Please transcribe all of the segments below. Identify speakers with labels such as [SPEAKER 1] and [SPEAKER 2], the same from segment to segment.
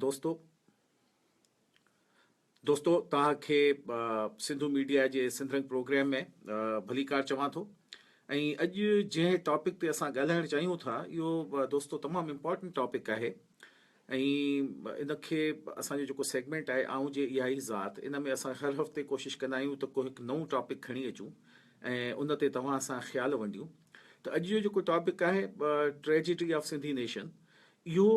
[SPEAKER 1] دوستو دوستو توهان کي سنڌو ميڊيا جي سنڌرنگ پروگرام ۾ ڀليڪار چوان ٿو ۽ اڄ جنهن ٽاپڪ تي اسان ڳالهائڻ چاهيون ٿا اهو دوستو تمام امپورٽنٽ ٽاپڪ آهي ۽ ان کي اسان جو جيڪو سيگمنٽ آهي آئون جي اها ئي ذات ان ۾ اسان هر هفتي ڪوشش ڪندا آهيون ته ڪو هڪ نئون ٽاپڪ کڻي اچون ۽ ان تي توهان سان خيال ونڊيون ته اڄ جو جيڪو ٽاپڪ آهي ٽريجڊي آف سنڌي نيشن اهو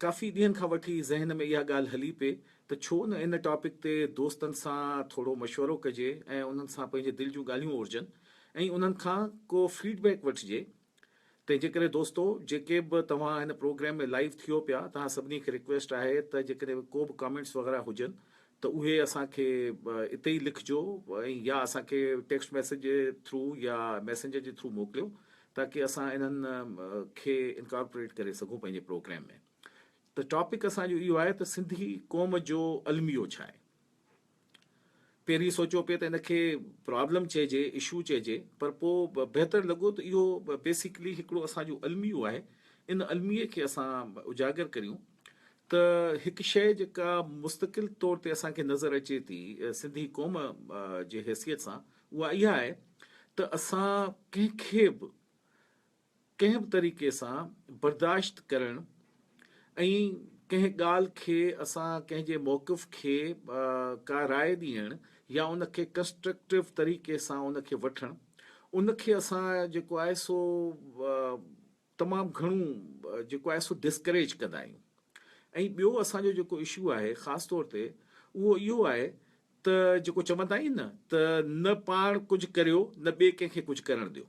[SPEAKER 1] ڪافي ڏينهن کان وٺي ذهن ۾ اها ڳالهه هلي پئي ته ڇو نه ان ٽاپڪ تي دوستن سان ٿورو مشورو ڪجي ۽ انهن سان پنهنجي دل جون ڳالهيون اورجن ۽ انهن کان ڪو فيڊ بيڪ وٺجي. تنهنجي ڪري دوستو جيڪي به توهان هن پروگرام ۾ لائيو ٿيو پيا توهان سڀني کي ريڪويسٽ آهي ته جيڪڏهن ڪو به ڪامينٽس وغيره هجن ته اهي اسان کي اتي ئي لکجو ۽ يا اسان کي ٽيڪسٽ ميسيج ٿرو يا ميسينجر جي ٿرو موڪليو تاڪي اسان انهن کي انڪارپوريٽ ڪري سگهون پنهنجي پروگرام ۾ ته ٽاپڪ اسان جو اهو آهي ته سنڌي قوم جو الميو ڇا آهي. پهرين سوچيو پئي ته ان کي پرابلم چئجي اشو چئجي پر پوء بهتر لڳو ته اهو بيسڪلي هڪڙو اسان جو الميو آهي ان الميي کي اسان اجاگر ڪريون ته هڪ شيء جيڪا مستقل طور تي اسان کي نظر اچي ٿي سنڌي قوم جي حيثيت سان اها اها آهي ته اسان ڪنهن کي به ڪنهن به طريقي سان برداشت ڪرڻ ۽ ڪنهن ڳالهه کي اسان ڪنهن جي موقف کي ڪا راء ڏيڻ يا ان کي ڪنسٽرڪٽو طريقي سان ان کي وٺڻ ان کي اسان جيڪو آهي سو تمام گهڻو جيڪو آهي سو ڊسڪريج ڪندا آهيون ۽ ٻيو اسان جو جيڪو اشو آهي خاص طور تي اهو اهو آهي ته جيڪو چوندا آهيون نه ته نه پاڻ ڪجهه ڪريو نه ٻئي ڪنهن کي ڪجهه ڪرڻ ڏيو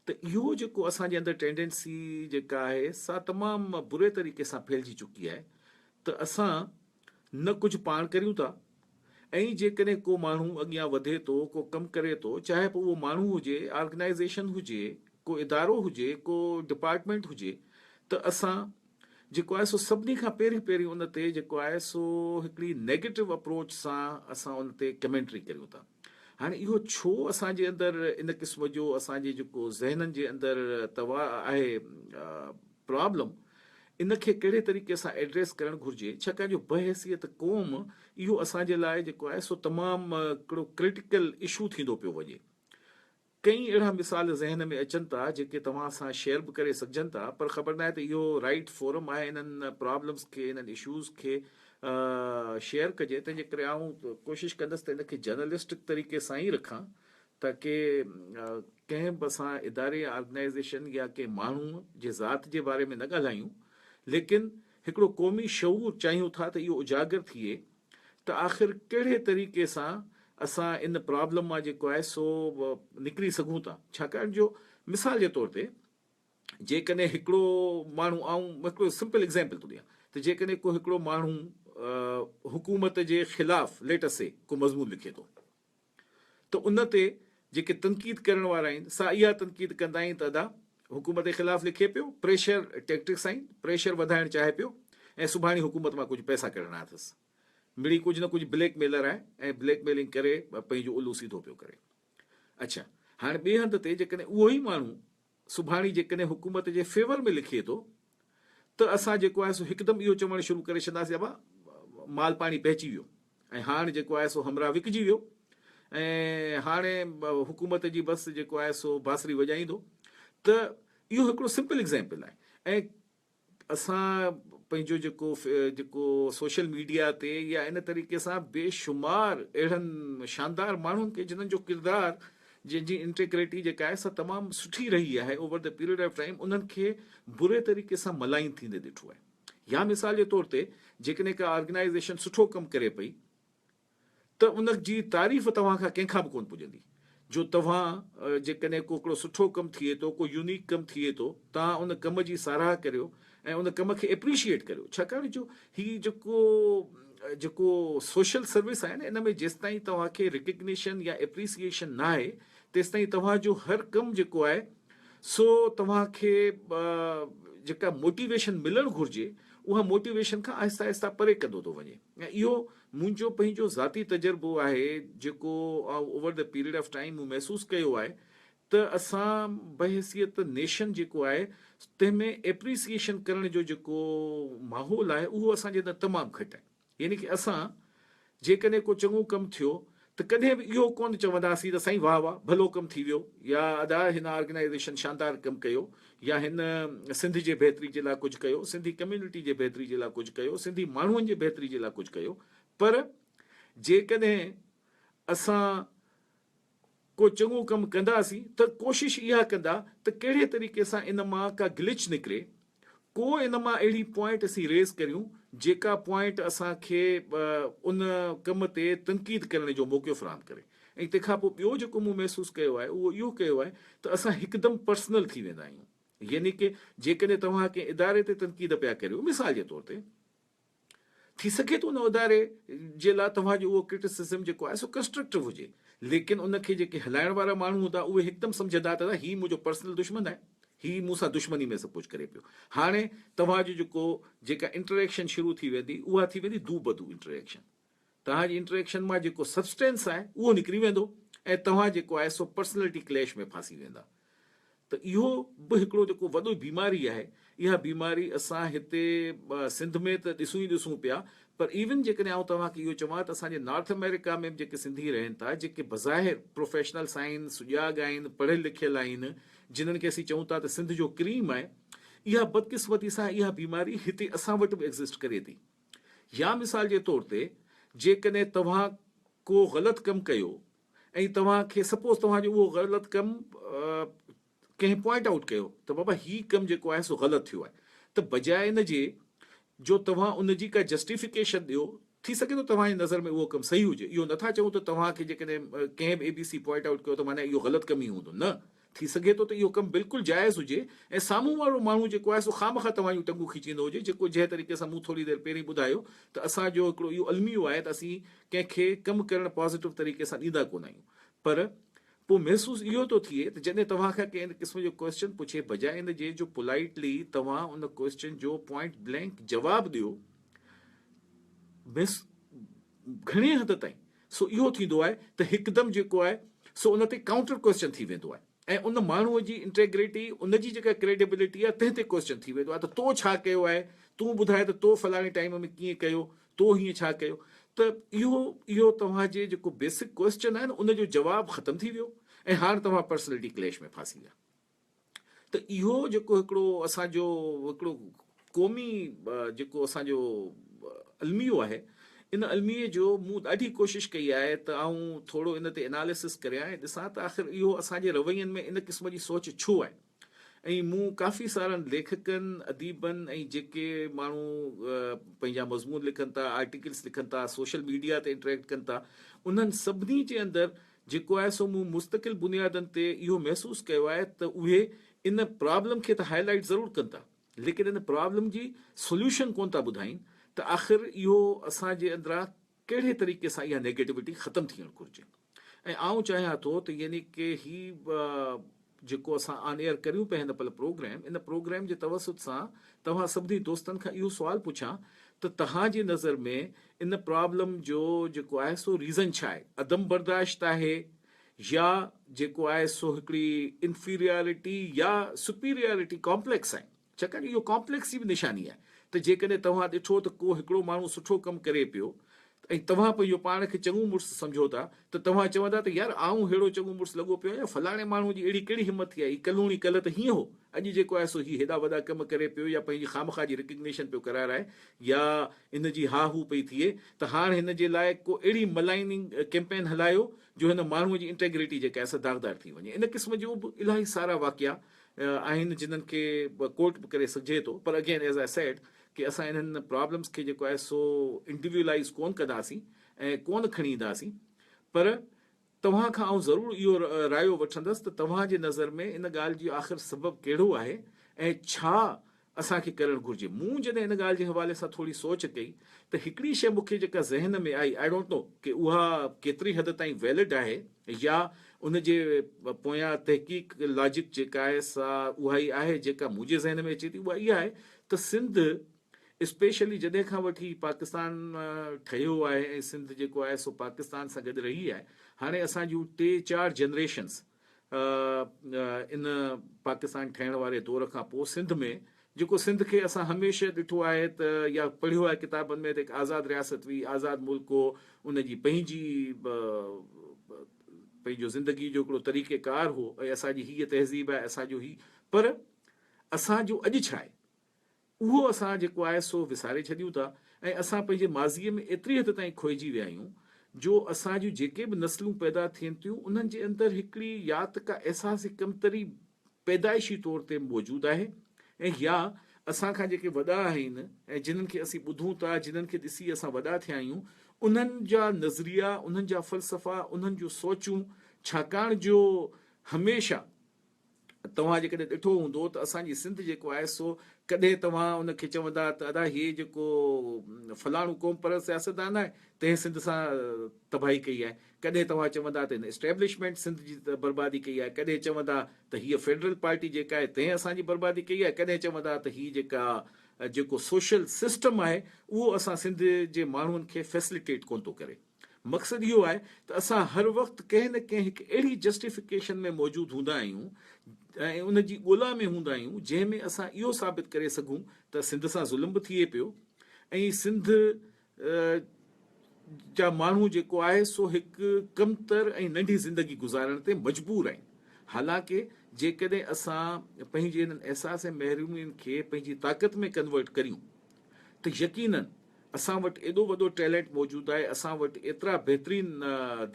[SPEAKER 1] ته اهو جيڪو اسان جي اندر ٽينڊنسي جيڪا آهي سا تمام بري طريقي سان ڦهلجي چڪي آهي ته اسان نه ڪجهه پاڻ ڪريون ٿا ائين جيڪڏهن ڪو ماڻهو اڳيان وڌي ٿو، ڪو ڪم ڪري ٿو، چاهي پوء اهو ماڻهو هجي، آرگنائيزيشن هجي، ڪو ادارو هجي، ڪو ڊپارٽمينٽ هجي ته اسان جيڪو آهي سو سڀني کان پهرين پهرين ان تي جيڪو آهي سو هڪڙي نيگيٽو اپروچ سان اسان ان تي ڪمينٽري ڪريون ٿا. هاڻي اهو ڇو اسان جي اندر ان قسم جو اسان جي جيڪو ذهنن جي اندر تواء آهي، پرابلم ان کي ڪهڙي طريقي سان ايڊريس ڪرڻ گهرجي ڇاڪاڻ جو بحيثيت قوم اهو اسان جي لاء جيڪو آهي سو تمام هڪڙو ڪرٽيڪل اشو ٿيندو پيو وڃي ڪئين اهڙا مثال ذهن ۾ اچن ٿا جيڪي توهان سان شيئر به ڪري سگهجن ٿا پر خبر ناهي ته اهو رائٽ فورم آهي انهن پرابلمز کي انهن اشوز کي شيئر ڪجي تنهنجي ڪري آئون ڪوشش ڪندس ته ان کي جرنلسٽڪ طريقي سان ئي رکان ته ڪي ڪنهن به اسان اداري، آرگنائيزيشن يا ڪنهن ماڻهوء جي ذات جي باري ۾ نه ڳالهايون، ليڪن هڪڙو قومي شعور چاهيون ٿا ته اهو اجاگر ٿئي ته آخر ڪهڙي طريقي سان اسان ان پرابلم مان جيڪو آهي سو نڪري سگهون ٿا. ڇاڪاڻ جو مثال جي طور تي جيڪڏهن هڪڙو ماڻهو آئون هڪڙو سمپل ايگزيمپل ٿو ڏيان ته جيڪڏهن ڪو هڪڙو ماڻهو حڪومت جي خلاف ليٽس سي ڪو مضمون لکي ٿو، ته ان تي جيڪي تنقيد ڪرڻ وارا آهن سا اها تنقيد ڪندا آهن ته ادا حڪومت جي خلاف لکي پيو پريشر ٽيڪٽڪس آهن پريشر وڌائڻ چاهي پيو ۽ سڀاڻي حڪومت مان ڪجهه پئسا ڪڍڻا اٿس مڙئي ڪجهه نه ڪجهه بليڪ ميلر آهي ۽ بليڪ ميلنگ ڪري پنهنجو الو سيڌو پيو ڪري اڇا هاڻ ٻئي هنڌ تي جيڪڏهن اهو ئي ماڻهو سڀاڻي جيڪڏهن حڪومت جي فيور ۾ لکي ٿو ته اسان جيڪو آهي سو هڪدم اهو چوڻ شروع ڪري ڇڏنداسين ابا مال پاڻي پهچي ويو ۽ هاڻ جيڪو آهي سو همراهه وڪجي ويو ۽ هاڻي حڪومت جي بس جيڪو آهي سو بانسري وڄائيندو ته اهو هڪڙو سمپل ايگزامپل آهي ۽ اسان پنهنجو جيڪو جيڪو سوشل ميڊيا تي يا ان طريقي سان بي شمار اهڙن شاندار ماڻهن کي جنهن جو ڪردار جن جي انٽيگريٽي جيڪا آهي سا تمام سٺي رهي آهي over the period of time انهن کي بري طريقي سان ملائن ٿيندي ڏٺو آهي يا مثال جي طور تي جيڪڏهن ڪا آرگنائيزيشن سٺو ڪم ڪري پئي ته ان جي تعريف توهان کان ڪنهن کان به ڪونه پڄندي. جو توهان جيڪڏهن ڪو هڪڙو سٺو ڪم ٿئي ٿو، ڪو يونيڪ ڪم ٿئي ٿو، توهان ان ڪم جي ساراهه ڪريو ۽ ان ڪم کي اپريشيئيٽ ڪريو. ڇاڪاڻ جو هي جيڪو جيڪو سوشل سروس آهي نه ان ۾ جيستائين توهان کي ريڪگنيشن يا اپريسيئيشن نه آهي تيستائين توهان جو هر ڪم جيڪو آهي سو توهان کي جيڪا موٽيويشن ملڻ گهرجي اها موٽيويشن کان آهسته آهسته پري ڪندو ٿو وڃي ۽ اهو منهنجو پنهنجو ذاتي تجربو آهي جيڪو over the period of time مون محسوس ڪيو آهي ته اسان بحيثيت نيشن جيڪو آهي تنهن ۾ ايپريسيئيشن ڪرڻ جو جيڪو ماحول آهي اهو اسان جي اندر تمام گهٽ آهي يعني ڪه اسان جيڪڏهن ڪو چڱو ڪم ٿيو ته ڪڏهن به اهو ڪونه چونداسين ته سائين واه واه ڀلو ڪم ٿي ويو يا ادا هن آرگنائيزيشن شاندار ڪم ڪيو يا هن سنڌ جي بهتري جي لاء ڪجهه ڪيو سنڌي ڪميونٽي جي بهتري جي لاء ڪجهه ڪيو سنڌي ماڻهن جي بهتري جي لاء ڪجهه ڪيو پر جيڪڏهن اسان ڪو چڱو ڪم ڪنداسين ته ڪوشش اها ڪندا ته ڪهڙي طريقي سان ان مان ڪا گلچ نڪري ڪو ان مان اهڙي پوائنٽ اسين ريز ڪريون جيڪا پوائنٽ اسان کي ان ڪم تي تنقيد ڪرڻ جو موقعو فراهم ڪري ۽ تنهن کان پوء ٻيو جيڪو مون محسوس ڪيو آهي اهو اهو ڪيو آهي ته اسان هڪدم پرسنل ٿي ويندا آهيون يعني ڪه جيڪڏهن توهان ڪنهن اداري تي تنقيد پيا ڪريو مثال جي طور تي ٿي سگهي ٿو ان اداري جي لاء توهان جو اهو ڪرٽيسزم جيڪو آهي سو ڪنسٽرڪٽو هجي ليڪن ان کي جيڪي هلائڻ وارا ماڻهو هوندا اهي هڪدم سمجهندا ته ادا هي منهنجو پرسنل دشمن آهي هي مون سان دشمني ۾ سڀ ڪجهه ڪري پيو هاڻي توهان جو جيڪو جيڪا انٽريڪشن شروع ٿي ويندي اها ٿي ويندي دو بدو انٽريڪشن. توهان جي انٽريڪشن مان جيڪو سبسٽينس آهي اهو نڪري ويندو ۽ توهان جيڪو آهي سو پرسنلٽي ڪليش ۾ ڦاسي ويندا ته اهو به هڪڙو جيڪو وڏو بيماري آهي اها بيماري اسان هتي سنڌ ۾ ته ڏسون ئي ڏسون پيا پر ايون جيڪڏهن آئون توهان کي اهو چوان ته اسان جي نارٿ آمريڪا ۾ به جيڪي سنڌي رهن ٿا جيڪي بظاهر پروفيشنلس آهن سجاڳ آهن پڙهيل لکيل آهن جنهن کي اسين چئون ٿا ته سنڌ جو ڪريم آهي اها بدقسمتي سان اها بيماري هتي اسان وٽ به ايگزسٽ ڪري ٿي يا مثال جي طور تي جيڪڏهن توهان ڪو غلط ڪم ڪيو ۽ توهان کي سپوز توهان جو اهو غلط ڪم ڪنهن پوائنٽ آئوٽ ڪيو ته بابا هي ڪم جيڪو آهي سو غلط ٿيو آهي ته بجاء ان جي جو توهان ان جي ڪا جسٽيفڪيشن ڏيو ٿي سگهي ٿو توهان جي نظر ۾ اهو ڪم صحيح هجي اهو نٿا چئون ته توهان کي جيڪڏهن ڪنهن به اي بي سي پوائنٽ آئوٽ ڪيو ته معنيٰ اهو غلط ڪم ئي هوندو نه ٿي سگهي ٿو ته اهو ڪم بلڪل جائز هجي ۽ سامهون وارو ماڻهو جيڪو آهي سو خامخواه توهان جون ٽنگون کيچيندو هجي جيڪو جنهن طريقي سان مون ٿوري دير پهرين ٻڌايو ته اسان جو هڪڙو اهو الميو آهي ته اسين ڪنهن کي ڪم ڪرڻ پازيٽو طريقي سان ڏيندا ڪونه آهيون پر پوء محسوس اهو ٿو ٿئي ته جڏهن توهان کان ڪنهن ان قسم جو ڪوئسچن پڇي بجاء ان جي جو پولائٽلي توهان ان ڪوئسچن جو پوائنٽ بلينڪ جواب ڏيو گهڻي حد تائين سو اهو ٿيندو آهي ته هڪدم جيڪو آهي سو ان تي ڪائونٽر ڪوئسچن ٿي ويندو آهي ۽ ان ماڻهوء جي انٽيگريٽي ان جي جيڪا ڪريڊيبلٽي آهي تنهن تي ڪوئسچن ٿي ويندو آهي ته تو ڇا ڪيو آهي تون ٻڌاء ته تو فلاڻي ٽائيم ۾ ڪيئن ڪيو تو هيئن ڇا ڪيو ته اهو اهو توهان جي جيڪو بيسڪ ڪوئسچن آهي نه ان جو جواب ختم ٿي ويو ۽ هاڻ توهان پرسنلٽي ڪليش ۾ ڦاسي ويا. ته اهو جيڪو هڪڙو اسان جو هڪڙو قومي جيڪو اسان جو الميو آهي ان الميي جو مون ڏاڍي ڪوشش ڪئي آهي ته آئون ٿورو ان تي اناليسس ڪريان ۽ ڏسان ته آخر اهو اسان جي روين ۾ ان قسم جي سوچ ڇو آهي ۽ مون ڪافي سارن ليکڪن اديبن ۽ جيڪي ماڻهو پنهنجا مضمون لکن ٿا آرٽيڪلس لکن ٿا سوشل ميڊيا تي انٽريڪٽ ڪن ٿا انهن سڀني جي اندر جيڪو آهي سو مون مستقل بنيادن تي اهو محسوس ڪيو آهي ته اهي ان پرابلم کي ته هاء لائيٽ ضرور ڪن ٿا ليڪن ان پرابلم جي سوليوشن ڪونه ٿا ٻڌائين ته آخر اهو اسان جي اندران ڪهڙي طريقي سان اها نيگيٽوٽي ختم ٿيڻ گهرجي ۽ آئون چاهيان ٿو ته يعني ڪي هي جيڪو اسان آن ايئر ڪريون پيا هن پل پروگرام ان پروگرام جي توسط سان توهان سڀني دوستن کان اهو سوال پڇان ته تهان جي نظر ۾ ان پرابلم جو جيڪو آهي سو ريزن ڇا آهي عدم برداشت آهي يا جيڪو آهي سو هڪڙي انفيريارٽي يا سپيريارٽي ڪامپليڪس آهن. ڇاڪاڻ اهو ڪامپليڪس جي به نشاني آهي ته جيڪڏهن توهان ڏٺو ته ڪو هڪڙو ماڻهو سٺو ڪم ڪري پيو ۽ توهان پنهنجو پاڻ کي چڱو مڙس سمجهو ٿا ته توهان چوندا ته يار آئون ههڙو چڱو مڙس لڳو پيو آهيان فلاڻي ماڻهو جي اهڙي ڪهڙي همت ٿي آهي هي ڪلهوڻي ڪلهه ته هيئن هو اڄ جيڪو آهي سو هي هيڏا وڏا ڪم ڪري پيو يا پنهنجي خامخواه جي ريڪگنيشن پيو ڪرارائي يا ان جي ها هو پئي ٿئي ته هاڻ هن جي لاء ڪو اهڙي ملائننگ ڪيمپين هلايو جو هن ماڻهو جي انٽيگريٽي جيڪا آهي سا داغدار ٿي وڃي ان قسم جو به الاهي سارا واقعا آهن جنھن کي ڪوٽ به ڪري سگهجي ٿو پر اگين ايز آء سيڊ ڪي اسان انھن پرابلمس کي جيڪو آهي سو انڊيويلائيز ڪون ڪنداسين ۽ ڪون کڻي اينداسين پر توهان کان آئون ضرور اهو رايو وٺندس ته توهان جي نظر ۾ ان ڳالهه جي آخر سبب ڪهڙو آهي ۽ ڇا اسان کي ڪرڻ گهرجي. مون جڏهن ان ڳالهه جي حوالي سان ٿوري سوچ ڪئي ته هڪڙي شيء مون کي جيڪا ذهن ۾ آئي آئي ڊونٽ نو ڪي اها ڪيتري حد تائين ويلڊ آهي يا ان جي پويان تحقيق لاجڪ جيڪا آهي سا اها ئي آهي جيڪا منهنجي ذهن ۾ اچي ٿي اها اها آهي ته سنڌ اسپيشلي جڏهن کان وٺي پاڪستان ٺهيو آهي ۽ سنڌ جيڪو آهي سو پاڪستان سان گڏ رهي آهي هاڻي اسان جون ٽي چار جنريشنس ان پاڪستان ٺهڻ واري دور کان پوء سنڌ ۾ جيڪو سنڌ کي اسان هميشه ڏٺو آهي ته يا پڙهيو آهي ڪتابن ۾ ته هڪ آزاد رياست هئي، آزاد ملڪ هو، ان جي پنهنجي پنهنجو زندگي جو هڪڙو طريقه ڪار هو ۽ اسان جي هيء تهذيب آهي، اسان جو هي پر اسان جو اڄ ڇا آهي؟ اهو اسان جيڪو آهي سو وساري ڇڏيون ٿا ۽ اسان پنهنجي ماضيء ۾ ايتري حد تائين کوئجي ويا آهيون جو اسان جون جيڪي به نسلون پيدا ٿين ٿيون انهن جي اندر هڪڙي يا ته ڪا احساسي ڪمتري پيدائشي طور تي موجود آهي ۽ يا اسان کان جيڪي وڏا آهن ۽ جنهن کي اسين ٻڌون ٿا جنهن کي ڏسي اسان وڏا ٿيا آهيون انهن جا نظريا انهن جا فلسفا انهن جون سوچون ڇاڪاڻ جو هميشه توهان جيڪڏهن ڏٺو هوندو ته اسان جي سنڌ جيڪو آهي سو ڪڏهن توهان ان کي چوندا ته ادا هي جيڪو فلاڻو قوم پرست سياستدان آهي تنهن سنڌ سان تباهي ڪئي آهي ڪڏهن توهان چوندا ته هن اسٽيبلشمينٽ سنڌ جي بربادي ڪئي آهي ڪڏهن چوندا ته هيء فيڊرل پارٽي جيڪا آهي تنهن اسان جي بربادي ڪئي آهي ڪڏهن چوندا ته هي جيڪا جيڪو سوشل سسٽم آهي اهو اسان سنڌ جي ماڻهن کي فيسليٽيٽ ڪونه ٿو ڪري. مقصد اهو آهي ته اسان هر وقت ڪنهن نه ڪنهن هڪ اهڙي جسٽيفڪيشن ۾ موجود هوندا آهيون ۽ ان جي ڳولا ۾ هوندا آهيون جنهن ۾ اسان اهو ثابت ڪري سگهون ته سنڌ سان ظلم به ٿئي پيو ۽ سنڌ جا ماڻهو جيڪو آهي سو هڪ ڪمتر ۽ ننڍي زندگي گذارڻ تي مجبور آهن حالانڪه جيڪڏهن اسان پنهنجي انهن احساس ۽ محرومين کي پنهنجي طاقت ۾ ڪنورٽ ڪريون ته يقيناً اسان وٽ ايڏو وڏو ٽيلنٽ موجود آهي، اسان وٽ ايترا بهترين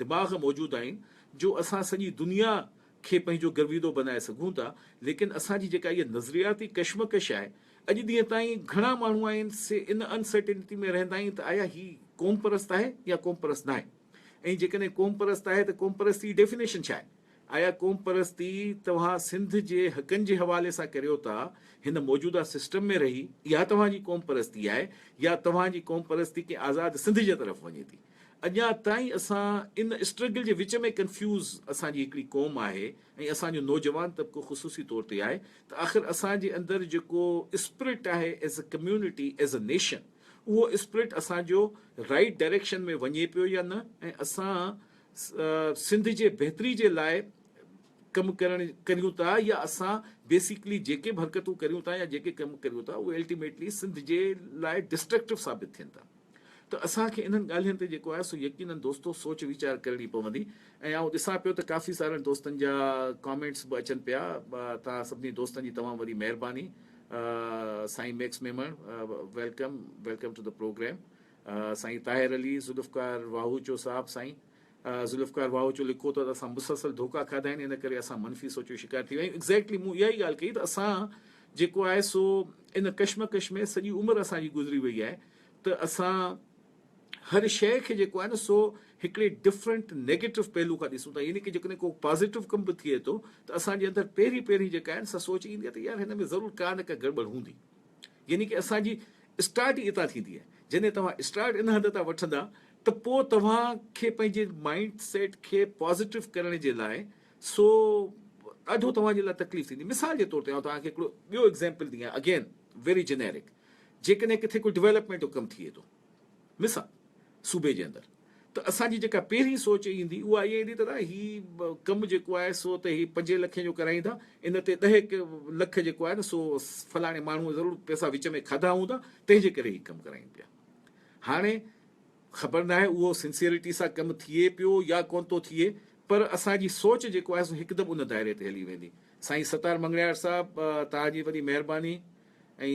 [SPEAKER 1] دماغ موجود آهن جو اسان سڄي دنيا کي پنهنجو گرويدو بنائي سگهون ٿا، ليڪن اسان جي جيڪا اها نظرياتي ڪشمڪش آهي، اڄ ڏينهن تائين گهڻا ماڻهو آهن سي ان انسرٽينٽي ۾ رهندا آهن ته آيا هي قومپرست آهي يا قومپرست ناهي ۽ جيڪڏهن قومپرست آهي ته قومپرستي جي ڊيفينيشن ڇا آهي؟ اها قومپرستي توهان سنڌ جي حقن جي حوالي سان ڪريو ٿا، هن موجوده سسٽم ۾ رهي اها توهان جي قومپرستي آهي يا توهان جي قومپرستي ڪنهن آزاد سنڌ جي طرف وڃي ٿي؟ اڃا تائين اسان ان اسٽرگل جي وچ ۾ ڪنفيوز اسان جي هڪڙي قوم آهي ۽ اسان جو نوجوان طبقو خصوصي طور تي آهي ته آخر اسان جي اندر جيڪو اسپرٽ آهي as a community as a nation اهو اسپرٽ اسان جو رائٽ ڊائريڪشن ۾ وڃي پيو يا نه ۽ اسان سنڌ جي بهتري جي لاء ڪم ڪرڻ ڪريون ٿا يا اسان بيسيڪلي جيڪي به حرڪتون ڪريون ٿا يا جيڪي ڪم ڪريون ٿا اهي الٽيميٽلي سنڌ جي لاء ڊسٽرڪٽو ثابت ٿين ٿا ته اسان کي انهن ڳالهين تي جيڪو آهي سو يقينن دوستو سوچ ويچار ڪرڻي پوندي ۽ آئون ڏسان پيو ته ڪافي سارن دوستن جا ڪامينٽس به اچن پيا توهان سڀني دوستن جي تمام وڏي مهرباني سائين Max Memon welcome welcome to the programme سائين طاهر علي ذوالفقار واهوچو صاحب سائين ذوالفقار واهوچو لکو ته اسان مسلسل ڌوڪا کاڌا آهن ان ڪري اسان منفي سوچ جو شڪار ٿي ويا آهيون ايگزيڪٽلي مون اها ئي ڳالهه ڪئي ته اسان جيڪو آهي سو ان ڪشمڪش ۾ سڄي عمر اسان جي گذري وئي آهي ته اسان هر شيء کي جيڪو آهي نه سو هڪڙي ڊفرنٽ نيگيٽو پهلو کان ڏسون ٿا يعني ڪي جيڪڏهن ڪو پازيٽو ڪم به ٿئي ٿو ته اسان جي اندر پهرين پهرين جيڪا آهي سا سوچ ايندي آهي ته يار هن ۾ ضرور ڪا نه ڪا گڙٻڙ هوندي يعني ڪه اسان جي اسٽارٽ ئي اتان ٿيندي آهي جڏهن توهان اسٽارٽ ان هنڌ تان وٺندا ته پوء توهان کي پنهنجي مائنڊ سيٽ کي پازيٽو ڪرڻ جي لاء سو ڏاڍو توهان جي لاء تڪليف ٿيندي مثال جي طور تي آئون توهان کي هڪڙو ٻيو ايگزيمپل ڏيان اگين ويري جينيرڪ جيڪڏهن ڪٿي ڪو ڊويلپمينٽ جو ڪم ٿئي ٿو مصع صوبي جي اندر ته اسان جي جيڪا پهرين سوچ ايندي اها اها ايندي ته نه هي ڪم جيڪو آهي سو ته هي پنجين لکين جو ڪرائيندا ان تي ڏهه هڪ لک جيڪو آهي نه سو فلاڻي ماڻهو ضرور پئسا وچ ۾ کاڌا هوندا تنهن جي ڪري هي ڪم ڪرائين پيا هاڻي خبر نه آهي اهو سنسيئرٽي سان ڪم ٿئي پيو يا ڪون ٿو ٿئي پر اسان جي سوچ جيڪو آهي سو هڪدم ان دائري تي هلي ويندي سائين ستار مڱڻيار صاحب توهان جي وڏي مهرباني ۽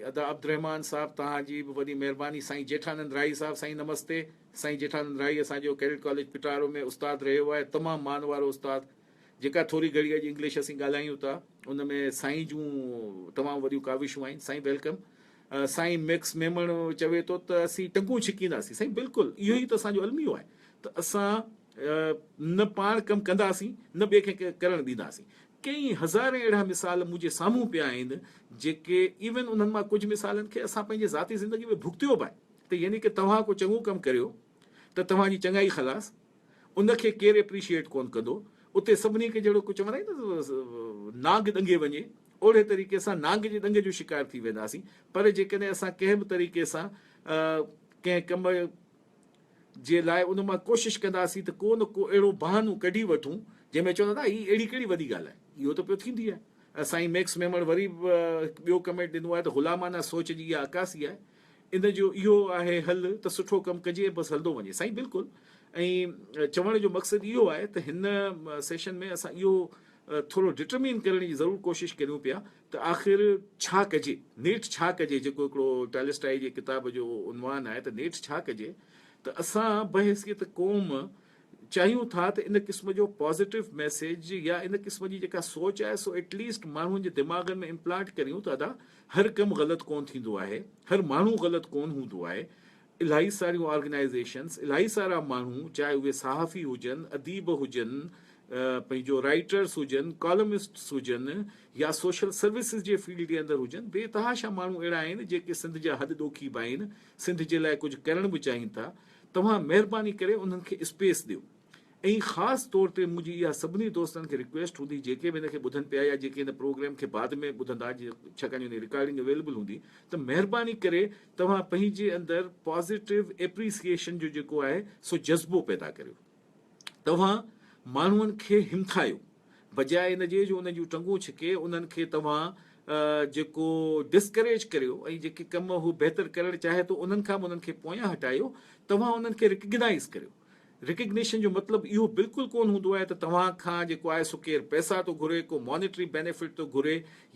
[SPEAKER 1] ادا عبدالرحمان صاحب توهان جي به وڏي مهرباني سائين جيٺانند راهي صاحب سائين نمستي سائين جيٺانند راهي اسان جو ڪيڊٽ ڪاليج پٽارو ۾ استاد رهيو آهي تمام مان وارو استاد جيڪا ٿوري گهڙي اڄ انگلش اسين ڳالهايون ٿا ان ۾ سائين جون تمام وڏيون ڪاوشون آهن سائين ويلڪم سائين ميڪس ميمڻ چوي ٿو ته اسين ٽنگون ڇڪينداسين سائين بلڪل اهو ئي ته اسان جو الميو آهي ته اسان نه پاڻ ڪم ڪنداسين نه ٻئي کي ڪرڻ ڏينداسين. ڪيئي هزارين اهڙا مثال منهنجي سامهون پيا آهن جيڪي ايون انهن مان ڪجهه مثالن کي اسان پنهنجي ذاتي زندگي ۾ ڀڳتيو به آهي ته يعني ڪه توهان ڪو چڱو ڪم ڪريو ته توهان جي چڱائي خلاص ان کي ڪير اپريشيئيٽ ڪون ڪندو اتي سڀني کي جهڙو ڪو چون آهي نه نانگ ڏنگي وڃي اوڙي طريقي سان نانگ جي ڏنگ جو شڪار ٿي وينداسين پر جيڪڏهن اسان ڪنهن به طريقي سان ڪنهن ڪم جي لاء ان مان ڪوشش ڪنداسين ته ڪو نه ڪو اهڙو بهانو ڪڍي وٺون جنهن ۾ چون ته دادا هي اهڙي ڪهڙي وڏي ڳالهه آهي اهو ته پيو ٿيندي آهي ۽ سائين ميڪس ميمڻ وري به هڪ ٻيو ڪمينٽ ڏنو آهي ته غلامانه سوچ جي اها عڪاسي آهي ان جو اهو آهي حل ته سٺو ڪم ڪجي ۽ بس هلندو وڃي سائين بلڪل ۽ چوڻ جو مقصد اهو آهي ته هن سيشن ۾ اسان اهو ٿورو ڊٽرمين ڪرڻ جي ضرور ڪوشش ڪريون پيا ته آخر ڇا ڪجي؟ نيٺ ڇا ڪجي؟ جيڪو هڪڙو ٽالسٽائي جي ڪتاب جو عنوان آهي ته نيٺ ڇا ڪجي؟ ته اسان بحيثيت قوم چاهيون ٿا ته ان قسم جو پازيٽو ميسيج يا ان قسم جي جيڪا سوچ آهي سو ايٽ ليسٽ ماڻهن جي دماغن ۾ امپلانٽ ڪريون ته ادا هر ڪم غلط ڪون ٿيندو آهي، هر ماڻهو غلط ڪون هوندو آهي، الاهي ساريون آرگنائيزيشنز، الاهي سارا ماڻهو چاهي اهي صحافي هجن، اديب هجن، پنهنجو رائيٽرز هجن، ڪالمسٽس هجن يا سوشل سروسز جي فيلڊ جي اندر هجن، بي تحاشا ماڻهو اهڙا آهن جيڪي سنڌ جا هڏ ڏوکي به آهن، سنڌ جي لاء ڪجهه ڪرڻ به چاهين ٿا، توهان مهرباني ڪري انهن کي اسپيس ڏيو. ۽ خاص طور تي منهنجي اها سڀني دوستن کي رڪويسٽ هوندي جيڪي به هن کي ٻڌن پيا يا جيڪي هن پروگرام کي بعد ۾ ٻڌندا ڇاڪاڻ جو هن جي رڪارڊنگ اويليبل هوندي ته مهرباني ڪري توهان پنهنجي اندر پازيٽو اپريسيئيشن جو جيڪو آهي سو جذبو پيدا ڪريو. توهان ماڻهن کي همٿايو بجاء ان جي جو انهن جون ٽنگون ڇڪي انهن کي توهان جيڪو ڊسڪريج ڪريو ۽ جيڪي ڪم هو بهتر ڪرڻ چاهي ٿو انهن کان به انهن کي پويان هٽايو توهان انهن کي رڪگنائيز ڪريو. ريڪگنيشن جو مطلب اهو بلڪل ڪونه هوندو آهي ته توهان کان جيڪو آهي سو ڪير پئسا ٿو گهري، ڪو مانيٽري بينيفٽ ٿو گهري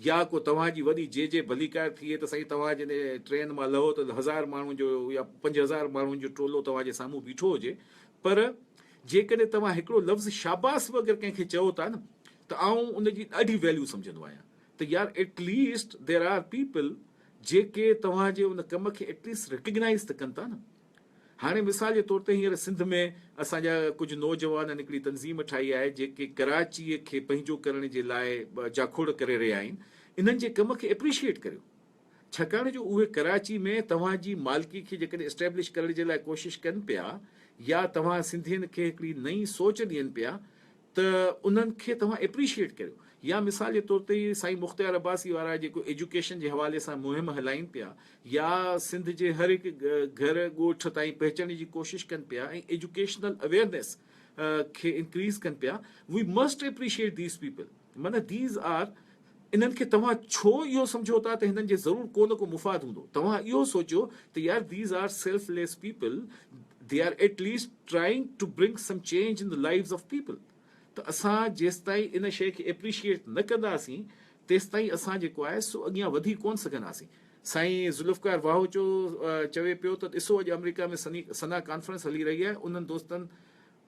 [SPEAKER 1] يا ڪو توهان جي وڏي جي جي ڀليڪار ٿئي ته سائين توهان جڏهن ٽرين مان لهو ته هزار ماڻهن جو يا پنج هزار ماڻهن جو ٽولو توهان جي سامهون بيٺو هجي پر جيڪڏهن توهان هڪڙو لفظ شاباس به اگر ڪنهن کي چئو ٿا نه ته آئون ان جي ڏاڍي ويليو سمجهندو آهيان ته يار at least there are people جيڪي توهان جي ان ڪم کي ايٽ ليسٽ ريڪگنائز ته ڪن ٿا نه. هاڻي مثال جي طور تي هينئر سنڌ ۾ اسان جا ڪجهه نوجوانن هڪڙي تنظيم ٺاهي آهي جيڪي ڪراچيء کي پنهنجو ڪرڻ جي لاء جاکوڙ ڪري رهيا آهن انهن جي ڪم کي اپريشيئيٽ ڪريو ڇاڪاڻ جو اهي ڪراچي ۾ توهان جي مالڪي کي جيڪڏهن اسٽيبلش ڪرڻ جي لاء ڪوشش ڪن پيا يا توهان سنڌين کي هڪڙي نئين سوچ ڏين پيا ته انهن کي توهان اپريشيئيٽ ڪريو يا مثال جي طور تي هي سائين مختيار عباسي وارا جيڪو ايجوڪيشن جي حوالي سان مهم هلائين پيا يا سنڌ جي هر هڪ گهر ڳوٺ تائين پهچڻ جي ڪوشش ڪن پيا ۽ ايجوڪيشنل اويئرنيس کي انڪريز ڪن پيا we must appreciate these people معنيٰ ديز آر انهن کي توهان ڇو اهو سمجهو ٿا ته هنن جي ضرور ڪو نه ڪو مفاد هوندو. توهان اهو سوچيو ته يار These are selfless people They are at least trying to bring some change in the lives of people ته اسان جيستائين ان شيء کي اپريشيئيٽ نه ڪنداسين تيستائين اسان جيڪو آهي سو اڳيان وڌي ڪونه سگهنداسين. سائين ذوالفقار واهوچو چوي پيو ته ڏسو اڄ آمريڪا ۾ سنا ڪانفرنس هلي رهي آهي انهن دوستن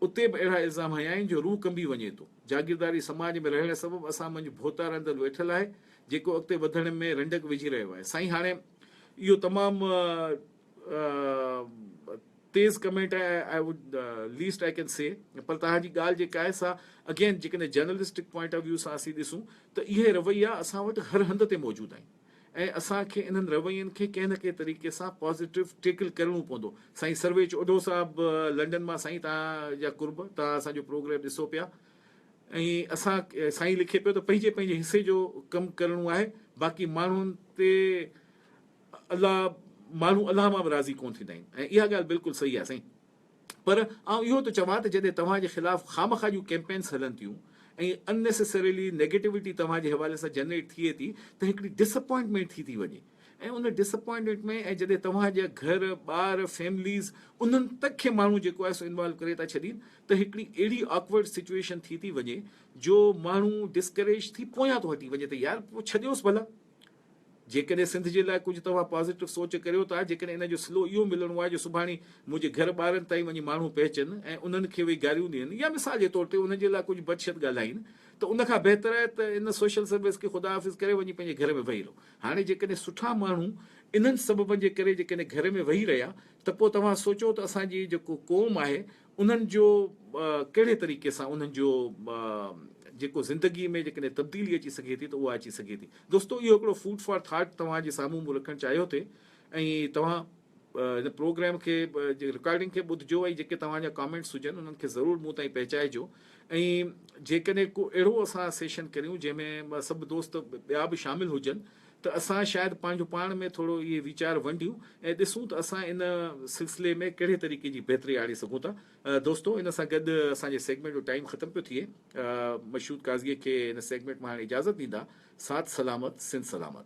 [SPEAKER 1] اتي به اهڙا الزام هنيائين جو روح ڪنبي وڃي ٿو. جاگيرداري سماج ۾ رهڻ سبب اسان منجهه ڀوتا رندل ويٺل آهي، جيڪو اڳتي وڌڻ ۾ رنڊڪ وجهي رهيو آهي. سائين هاڻي اهو تمام تيز ڪمينٽ آهي آء وڊ ليسٽ آء ڪين سي پر توهان جي ڳالهه جيڪا آهي سا اگين جيڪڏهن جرنلسٽڪ پوائنٽ آف ويو سان اسين ڏسون ته اهي رويا اسان وٽ هر هنڌ تي موجود آهن. ۽ اسان کي انهن روين کي ڪنهن نه ڪنهن طريقي سان پازيٽو ٽيڪل ڪرڻو پوندو. سائين سرويچ اوڍو صاحب لنڊن مان سائين توهان جا قرب توهان اسان جو پروگريم ڏسو پيا ۽ اسان سائين لکي پيو ته پنهنجي پنهنجي حصي جو ڪم ڪرڻو آهي باقي ماڻهن تي الله ماڻهو الله مان به راضي ڪون ٿيندا آهن ۽ اها ڳالهه بلڪل صحيح آهي سائين پر آئون اهو ٿو چوان ته جڏهن توهان جي خلاف خامخواه جون ڪيمپينس هلن ٿيون ۽ ان نيسيسريلي نيگيٽوٽي توهان جي حوالي سان جنريٽ ٿئي ٿي ته هڪڙي ڊس اپوائنٽمينٽ ٿي ٿي وڃي ۽ ان ڊس اپوائنٽمينٽ ۾ ۽ جڏهن توهان جا گهر، ٻار، فيمليز انهن تک کي ماڻهو جيڪو آهي سو انوالو ڪري ٿا ڇڏين ته هڪڙي اهڙي آڪورڊ سچوئيشن ٿي ٿي وڃي جو ماڻهو ڊسڪريج ٿي پويان ٿو هٽي وڃي ته يار پوء ڇڏيوس ڀلا جيڪڏهن سنڌ جي لاء ڪجهه توهان پازيٽو سوچ ڪريو ٿا، جيڪڏهن ان جو صلو اهو ملڻو آهي جو سڀاڻي منهنجي گهر ٻارن تائين وڃي ماڻهو پهچن ۽ انهن کي ويهي گاريون ڏين يا مثال جي طور تي انهن جي لاء ڪجهه بدشت ڳالهائين ته ان کان بهتر آهي ته ان سوشل سروس کي خدا حافظ ڪري وڃي پنهنجي گهر ۾ ويهي رهو. هاڻي جيڪڏهن سٺا ماڻهو انهن سببن جي ڪري جيڪڏهن گهر ۾ ويهي رهيا ته پوء توهان سوچو ته اسان جي جيڪو قوم آهي انهن جو ڪهڙي طريقي سان انهن جو جيڪو زندگي ۾ جيڪڏهن تبديلي اچي سگهي ٿي ته اها اچي سگهي ٿي. دوستو اهو هڪڙو فوڊ فار ٿاٽ توهان جي سامهون مون رکڻ چاهيو ٿي ۽ توهان هن پروگرام کي جي رڪارڊنگ کي ٻڌجو ۽ جيڪي توهان جا ڪامينٽس هجن انهن کي ضرور مون تائين پهچائجو ۽ جيڪڏهن ڪو اهڙو اسان سيشن ڪريون جنهن ۾ سڀ دوست ٻيا به شامل هجن ته اسان شايد پنهنجو پاڻ ۾ ٿورو اهي ويچار ونڊيون ۽ ڏسون ته اسان ان سلسلي ۾ ڪهڙي طريقي جي بهتري آڻي سگهون ٿا. دوستو ان سان گڏ اسان جي سيگمينٽ جو ٽائيم ختم پيو ٿئي. مشهود قاضي کي هن سيگمينٽ مان هاڻي اجازت ڏيندا. ساٿ سلامت سنڌ سلامت.